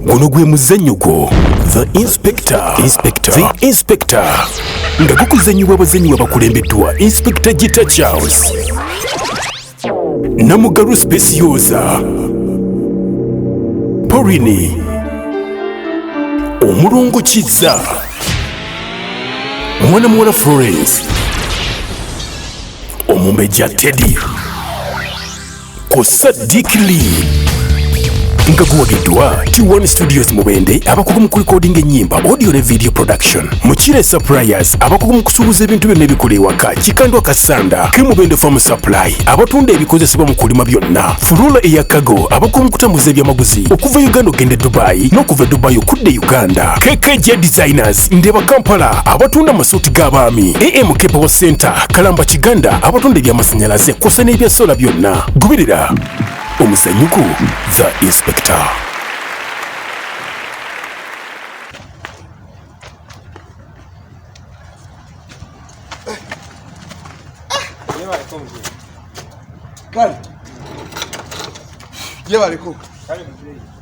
guno gwe muzannyo gwo the inspector inspector the inspector nga gukuzannyibwa abazannyi babakulembeddwa inspector gita charles namugalu specioza porini omulongo kizza mwana muwala florence omumbejja teddy ku Sadiq Lee nga guwagiddwa T1 Studios Mubende abakugu mu kulikodinga ennyimba audio ne video production Mukire Suppliers abakugu mu kusuubuza ebintu byonna ebikola ewaka Kikandwa Kasanda ke Mubende Farm Supply abatunda ebikozesebwa mu kulima byonna Furula eya Kago abakugu mu kutambuza ebyamaguzi okuva Uganda okugenda e Dubai n'okuva e Dubai okudda e Uganda KKJ Designers Market, Ndeba Kampala abatunda amasuuti g'abaami, AM Kepewo Center, Kalamba Kiganda abatunda eby'amasannyalaze kw'ossa n'ebya sola byonna. Goberera omuzanyuko The Inspector. Kale. Yebaleko. Kale mzee.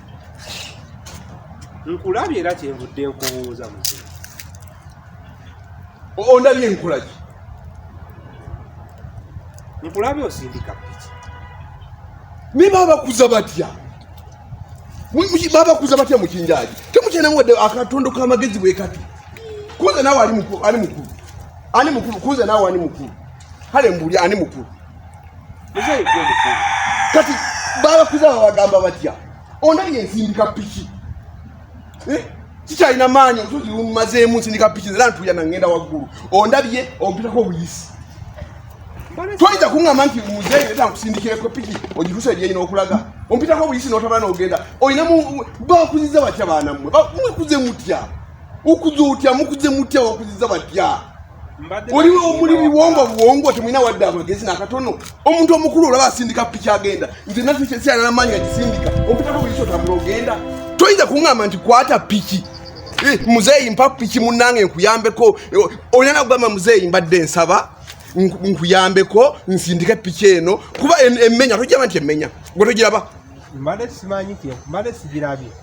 nkulabye era kyenvudde nkubuuza muzee ondabye nkulaki nkulabye osindika piki naye babakuza batya babakuza batya mukinjaji temukyanamu wadde akatondo kamagezi bwekati kuze nawe ali mukulu ani mukulu kuze nawe ani mukulu kale mbuli ani mukulu kati balakuza babagamba batya ondabye nsindika piki eh? kikyalina maanyi olusozi lumazeemu nsindika piki era ntuya nangenda waggulu ondabye ompitako obuyisi toyinza kuŋama nti muzeeyi era nkusindikireko piki ogitusa ebyeyina okulaga ompitako obuyisi notabala nogenda olinamu bakuziza batya baanammwe mukuze mutya ukuze otya mukuze mutya bakuziza batya oliwo omuli biwongo buwongo temulina wadde amagezi nakatono omuntu omukulu olaba asindika piki agenda nze nasikyanamaanyi gagisindika okutako buli kyotambula ogenda toyinza kuŋamba nti kwata piki eh, muzeeyi mpa piki munange nkuyambeko eh, olina nakugamba muzeeyi mbadde nsaba nkuyambeko nsindike piki eno kuba emmenya tojaba nti emmenya gwe togiraba mbadde simanyi mbadde sigirabye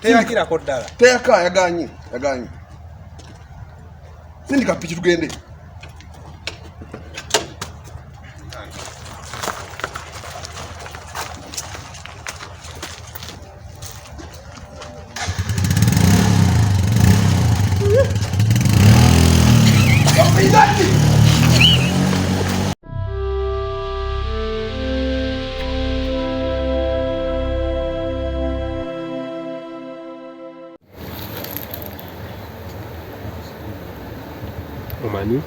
teyakirako ddala teyaka yaganye yaganye sindika piki tugende omanyi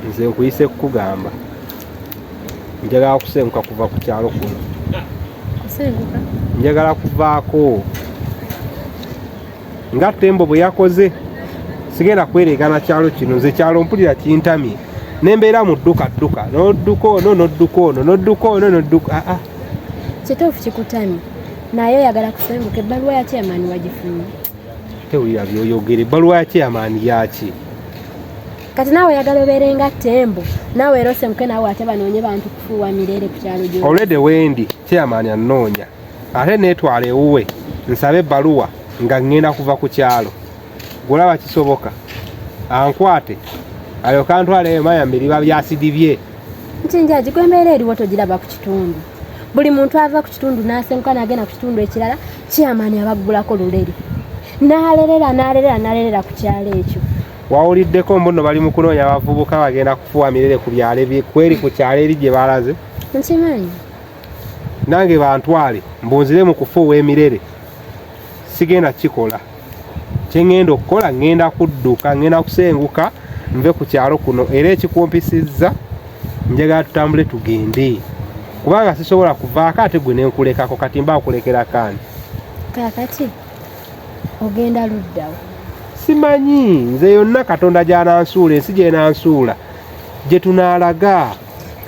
nze nkuyise kukugamba njagala kusenguka kuva ku kyalo kuno njagala kuvaako nga tembo bwe yakoze sigenda kweregana kyalo kino nze kyalo mpulira kintamye nembeera mu dduka dduka nodduka ono nodduka ono nodduka ono nodduka aa ah, ah. kituufu kikutamye naye oyagala kusenguka ebbaluwa ya chairman wagifunye tewulira byoyogera ebbaluwa ya chairman yaki kati naawe oyagala obeere nga tembo naawe era osemuke naawe ate banoonye bantu kufuuwa mirere ku kyalo gyo olwede wendi chairman anoonya ate netwala ewuwe nsabe ebbaluwa nga ŋŋenda kuva ku kyalo gulaba kisoboka ankwate alyoka antwala eyo maya miriba byasidi bye nti njaji gwe embeera eriwo togiraba ku kitundu buli muntu ava ku kitundu n'asenguka n'agenda ku kitundu ekirala kyamaani abaggulako luleri n'alerera n'alerera n'alerera ku kyalo ekyo wawuliddeko mbuno bali mu kunoonya abavubuka bagenda kufuwa mirere ku byalo kweri ku kyalo eri gye balaze nkimanyi nange bantwale mbunzire mu kufa ow'emirere sigenda kukikola kye ŋŋenda okukola ŋŋenda kudduka ŋŋenda kusenguka nve ku kyalo kuno era ekikumpisizza njagala tutambule tugende kubanga sisobola kuvaako ate gwe nenkulekako kati mba nkulekera kaani kakati ogenda luddawo simanyi nze yonna katonda gyanansuula ensi gyenansuula gye tunaalaga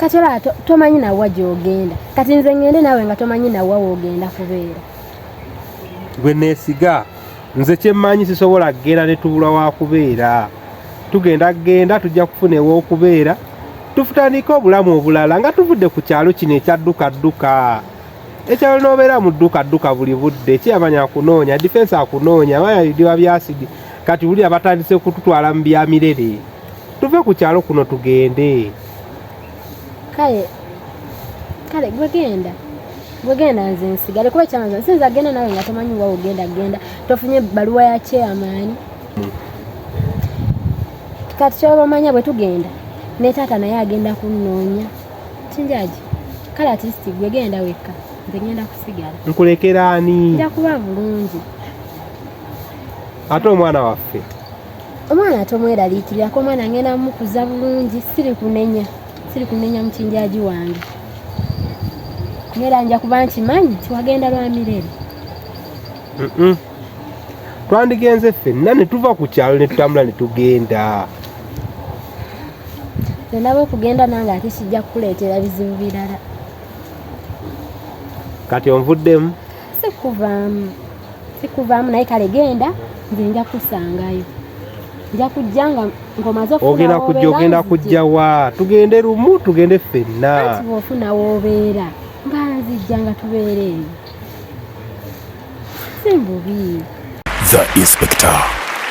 kati olaba tomanyi nawa gyogenda kati nze ngende nawe nga tomanyi nawa wogenda kubeera gwe nesiga nze kyemmanyi sisobola kugenda ne tubula wa kubeera tugenda kugenda tujja kufuna ew'okubeera tufutandike obulamu obulala nga tuvudde ku kyalo kino ekyaddukadduka ekyalo n'obeera mu ddukadduka buli budde kiyamanya akunoonya difensi akunoonya maya bidiba byasidi kati wulira batandise kututwala mu bya mirere tuve ku kyalo kuno tugende kale kale gwe genda gwe genda nze nsigale kuba kyanza sinza genda nawe nga tomanyi wa ogenda genda tofunye baluwa ya chairman kati kyoba omanya bwe tugenda ne taata naye agenda kunnoonya kinjaji kale atist gwe genda wekka nze ngenda kusigala nkulekera ani nja kuba bulungi ate omwana waffe omwana tomweraliikirako omwana ngenda mukuza bulungi siri kunenya siri kunenya mukinjaji wange ngera nja kuba nkimanyi tiwagenda lwa mirere twandigenze ffenna ne tuva ku kyalo ne tutambula ne tugenda nenaba okugenda nange ate kijja kukuleetera bizibu birala kati onvuddemu sikuvaamu sikuvaamu naye kale genda nze nja kusangayo nja kujja nga ngomaze ogenda kujja ogenda kujja wa tugende lumu tugende ffenna ofuna wobeera nga nzijja nga tubeereeyo simbubi the inspector